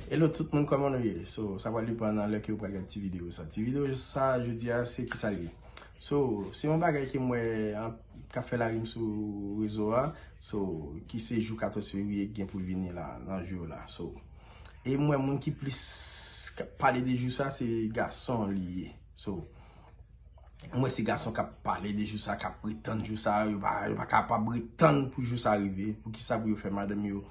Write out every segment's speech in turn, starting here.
Hello tout moun koman nou ye so sa pral depan nan lè ke ou pral gad ti video sa ti video sa jodi a se kisa li ye so se yon bagay ke mwen kap fè la rim sou rezo a so ki se jou 14 fevrier ki gen pou vini la nan jou yo la so e mwen moun ki plis kap pale de jou sa se gason li ye so mwen se gason kap pale de jou sa kap pretan jou sa yo pa kapab pretan pou jou sa rive pou kisa pou yo fè madanm yo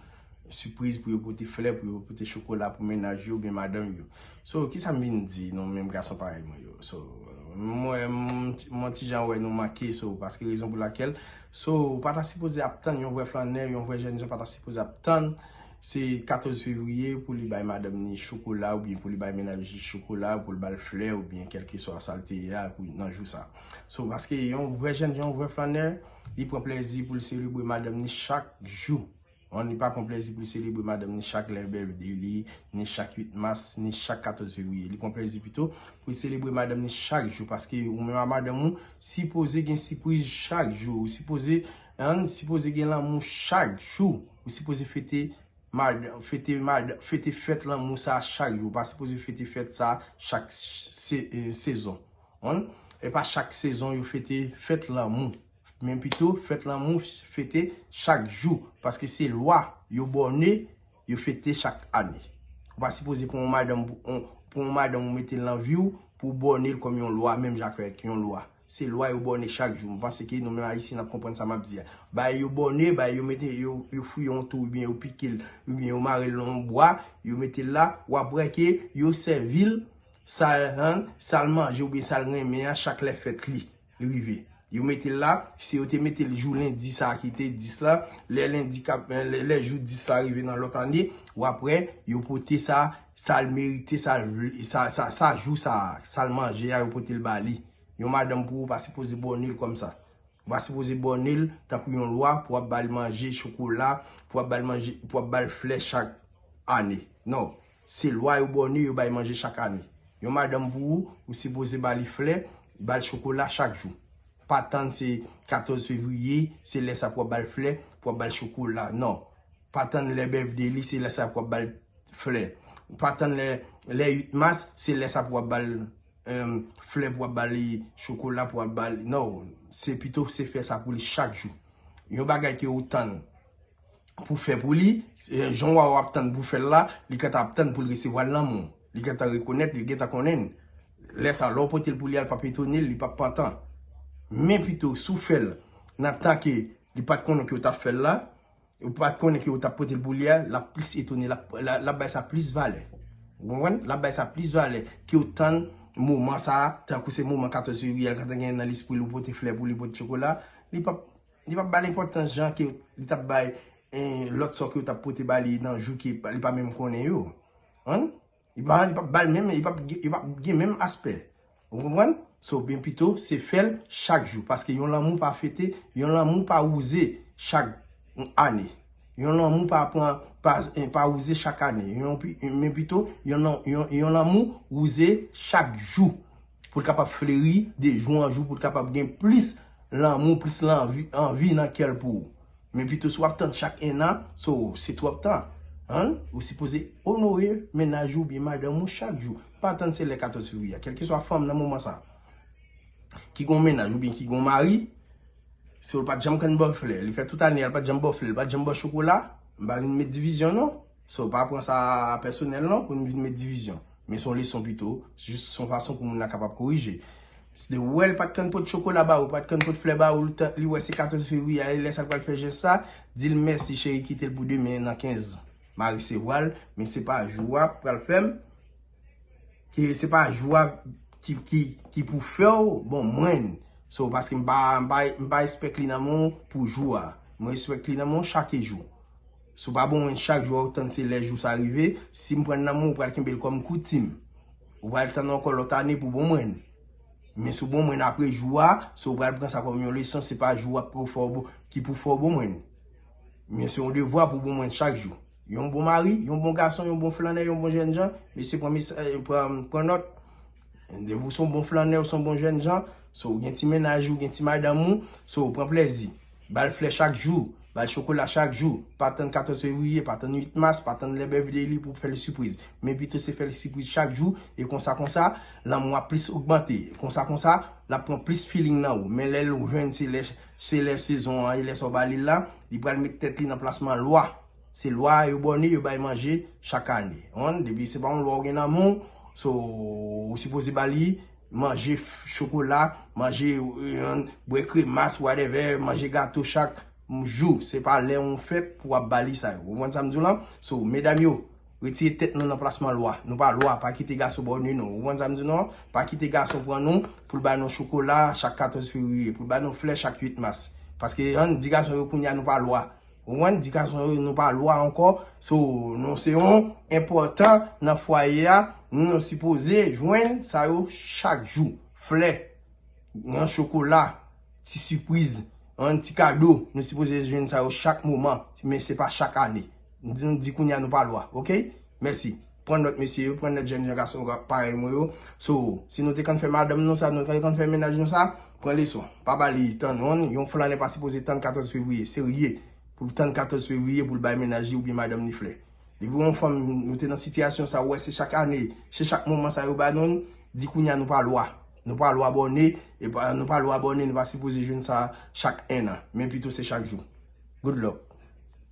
Sipriz pou yo pote flè, pou yo pote chokola pou mennaj yo oubyen madanm yo. So, kisa m vin di nou menm gason parèy mwen yo? So, mwen, m on ti jan wè nou manke so, paske rezon pou lakèl, so, ou pa ta sipoze ap tann yon vrè flannè, yon vrè jènjan pa ta sipoze ap tann se 14 fevriye pou li bay madanm ni chokola oubyen pou li bay mennaj li chokola, pou l ba l flè oubyen kèlkeswa sa l te ye a pou nan jou sa. So, paske yon vrè jènjan, yon vrè flannè, li pran plèzi pou l selebre madanm ni chak jou. An li pa pran plèzi pou li selebre madanm ni chak lè birthday li, ni chak 8 mas, ni chak 14 fevriye. Li pran plèzi pito pou li selebre madanm ni chak jou paske ou menm ak madanm ou sipoze gen sipriz chak jou. Ou sipoze an sipoze gen lanmou chak jou. Ou sipoze fete madanm fete madanm fete fèt lanmou sa chak jou. Ou pa sipoze fete fèt sa chak sezon. An e pa chak sezon yo fete fèt lanmou. Men pito fèt lanmou fete chak jou paske se lwa yo bòne yo fete chak ane. Ou pa sipoze pran yon madanm pran yon madanm ou mete l nan vi w pou w bòne l kòm yon lwa menm jan avèk yon lwa. Se lwa yo bòne chak jou. M panse ke nou menm Ayisyen n ap konprann sa m ap di a. Bagay yo bòne, bagay yo mete yo fouye yon tou oubyen yo pike l oubyen yo mare l nan yon bwa yo mete l la w ap wè ke yo sèvi l sa l manje oubyen sa l renmen an chak lè fèt li. Li rive. Yo mete l la, si yo te mete l jou lendi sa a ki te 10 la, lè lendi k ap, lè jou 10 la rive nan lòt ane, w ap wè yo pote sa, sa l merite, sa l vle, sa, sa, sa jou sa a, sa l manje a yo pote l ba li. Yon madanm pou ou pa sipoze bòne l kòmsa. Ou pa sipoze bòne l tankou yon lwa pou w ap ba l manje chokola, pou w ap ba l manje, pou w ap ba l flè chak ane. Non. Se lwa yo bòne yo bay manje chak ane. Yon madanm pou ou, ou sipoze ba li flè, ba l chokola chak jou. Pa tann se 14 fevriye, se lè sa pou w ap ba l flè, pou w ap ba l chokola. Non. Pa tann lè bèfde li, se lè sa pou w ap ba l flè. Pa tann lè lè 8 mas, se lè sa pou w ap ba l flè, pou w ap ba li chokola, pou w ap ba li. Non. Se pito se fè sa pou li chak jou. Yon bagay ke ou tann. pou fè pou li, jan wa wap tann pou fèl la, li gentan ap tann poul resevwal nan menw, li gentan rekonèt, li gentan konnenn, lè sa lèw potel pou li al pap etonel, li pap pantan, men pito sou fèl nan tan ke li pat konnen ke ou tap fèl la, ou pat konnen ke ou tap potel pou li a, lap plis etone, lap bay sa plis valè, ou konprann, lap bay sa plis valè kew tann moman sa, tankou se moman 14 fevriye al gentan gen nan lespril ou pote flè pou li, pote chokola, li pap. Li pap bal enpòtans jan ke li tap bay lòt sò ke yo tap pote ba li nan jou ke li pa menm konnen yo. Konprann? Li pa, li pap bal menm, li pap gen, li pap gen menm aspè. Ou konprann? So, byen pito se fèl chak jou. Paske yon lanmou pa fete, yon lanmou pa wouze chak ane. Yon lanmou pa pran, pa, pa wouze chak ane. Yon pi, men pito, yon lanmou wouze chak jou. Pou l kapab fleri de jou an jou, pou l kapab gen plis lanmou, plis lanvi, anvi nan kè l pou ou. Men pito si w ap tann chak ennan, so se twòp tan. An, ou sipoze onore mennaj ou oubyen madanm ou chak jou. Pa tann se lè 14 fevriye a. Kèlkeswa fanm nan moman sa a ki gon mennaj oubyen ki gon mari, si w l pa t janm kenn ba w flè, li fè tout ane a l pa t janm ba w flè, li pa t janm ba w chokola, m pa vin met divizyon non. So pa pran sa pèsonèl non pou nou vin met divizyon. Men son leson pito, jis son fason pou moun nan kapab korije. Misye wè li pat kan pot chokola ba ou, li pat kan pot flè ba ou, li wè se 14 fevriye a, li lè sa li pral fè jès sa, di l mèsi cheri kite l pou demen nan 15 ma resevwa l, men se pa jou a pral fè m, se pa jou a ki pou fè w bon mwen. So paske m pa espèk li nan men w pou jou a, mwen espèk li nan men w chake jou. Si w pa bon moun chak jou a ou tann se lè jou sa rive, si m pran nan mwen ou pral kenbe l kòm koutim. Ou pral tann ankò lòt ane pou bon mwen. Men si w bon mwen apre jou a, se ou pral pran sa kòm yon leson se pa jou a ki pou fè w bon mwen. Men se yon devwa pou bon mwen chak jou. Yon bon mari, yon bon gason, yon bon flannè, yon bon jènjan, mesye pran nòt. Depi ou se yon bon flannè, ou se yon bon jèn jan, so ou gen ti mennaj ou, ou gen ti madanm ou, so pran plèzi. Ba l flè chak jou, ba l chokola chak jou. Pa tann 14 fevriye, pa tann 8 mas, pa tann lè birthday li pou w fè l sipriz. Men pito se fè l sipriz chak jou e konsa konsa, lanmou a ap plis ogmante. Konsa konsa, l ap pran plis feeling nan ou. Men lè l jwenn se lè sezon an e lè sa w ba li l la, li pral met tèt li nan plasman lwa. Se lwa yo bòne yo bay manje chak ane. Ou konprann? Depi se pa yon lwa ou gen nan men w, so ou sipoze ba li manje chokola, manje bwè kremas whatever, manje gato chak jou. Se pa lè yon fèt pou wap ba li sa yo. Ou konprann sa m di w lan? So medam yo, retire tèt nou nan plasman lwa. Nou pa lwa, pa kite gason bòne nou. Ou konprann sa m di w lan? Pa kite gason pran nou pou l ba nou chokola chak 14 fevriye, pou l ba nou flè chak 8 mas. Paske an, di gason yo kounya nou pa lwa. Ou konprann? Di gason yo nou pa lwa ankò, so nou se yon enpòtan nan fwaye a, nou sipoze jwenn sa yo chak jou. Flè, yon chokola, ti sipriz, yon ti kado, nou sipoze jwenn sa yo chak moman, men se pa chak ane. M di nou di kounye a nou pa lwa, ok? Mèsi. Pran nòt mesye yo, pran nòt jèn jan gason parèy mwen yo. So, si nou te konn fè madanm nou sa, nou te konn fè mennaj nou sa, pran leson. Pa ba li tan non, yon flanè pa sipoze tann 14 fevriye, serye, pou l tann 14 fevriye pou l bay mennaj li oubyen madanm li flè. Depi w yon fanm, nou te nan sitiyasyon sa, ou wè se chak ane, se chak moman sa yo ba nou l, di kounye a nou pa lwa. Nou pa lwa bòne, e pa, nou pa lwa bòne, nou pa sipoze jwenn sa chak ennan, men pito se chak jou. Good luck!